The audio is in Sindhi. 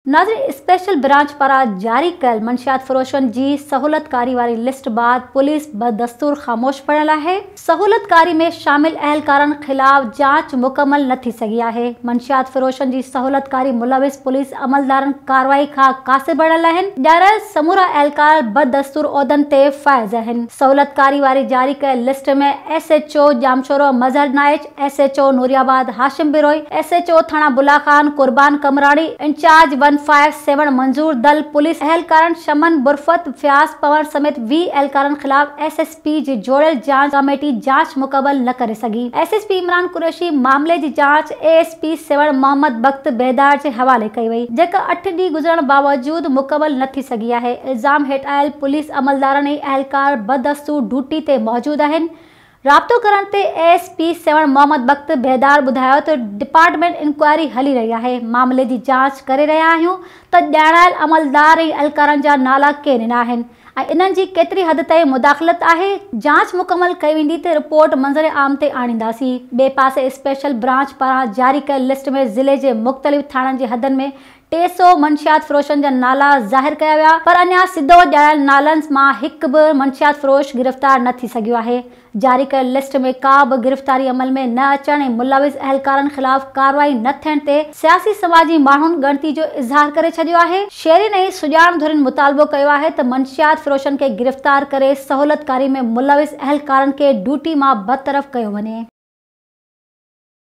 ناظرين اسپيشل برانچ پاران جاري ڪيل منشيات فروشن جي سهولتڪاري واري لسٽ بعد پوليس بدستور خاموش پڙهيل آهي، سهولتڪاري ۾ شامل اهلڪارن خلاف جاچ مڪمل نه ٿي سگهي آهي، منشيات فروشن جي سهولتڪاري ملوث پوليس عملدارن ڪارروائي کان قاصر بڻيل آهن، ڄاڻايل سمورا اهلڪار بدستور عهدن تي فائز آهن، سهولتڪاري واري جاري ڪيل list ۾ S H O Jamshoro Mazhar Naich, S H O Noori Abad Hashim Brohi, S H O Thana Bula Khan Qurban Qamrani, incharge one five Sehwan Manzoor Dal, police اهلڪارن شمن برفت، فياض پوڻ سميت ويهه اهلڪارن خلاف ايس ايس پي جي جوڙيل جاچ ڪاميٽي جاچ مڪمل نه ڪري سگهي، S S P Imran Qureshi معاملي جي جاچ A S P Sehwan Muhammad Bakht Bedar جي حوالي ڪئي وئي، جيڪا اٺ ڏينهن گذرڻ باوجود مڪمل نه ٿي سگهي آهي، الزام هيٺ آيل پوليس عملدارن ۽ اهلڪار بدستور ڊوٽي تي موجود آهن، رابطو ڪرڻ تي A S P Sehwan Muhammad Bakht Bedar ٻڌايو ته ڊپارٽمينٽ انڪوائري هلي رهي آهي، معاملي جي جاچ ڪري رهيا آهيون ته ڄاڻايل عملدار ۽ اهلڪارن جا نالا ڪين ڏنا آهن ۽ انهن جي ڪيتري حد تائين مداخلت آهي، جاچ مڪمل ڪئي ويندي ته رپورٽ منظر عام تي آڻينداسين، ٻئي پاسي اسپيشل برانچ پاران جاري ڪيل لسٽ ۾ ضلعي جي مختلف ٿاڻن جي حدن ۾ ٽي سؤ منشيات فروشن جا نالا ظاهر ڪيا ويا پر اڃا سڌو ڄايل نالن مان هڪ به منشيات فروش گرفتار نه ٿي سگهيو آهي. جاري ڪيل لسٽ ۾ ڪا به گرفتاري عمل ۾ نه اچڻ ۽ ملوث اهلڪارن خلاف ڪارروائي نه ٿيڻ تي سياسي سماجي ماڻهن ڳڻتي جو اظهار ڪري ڇڏيو آهي. شهرين ۽ سڄاڻ ڌرين مطالبو ڪيو آهي ته منشيات فروشن کي گرفتار ڪري سهولتڪاري ۾ ملوث اهلڪارن کي ڊيوٽي مان برطرف ڪيو وڃي.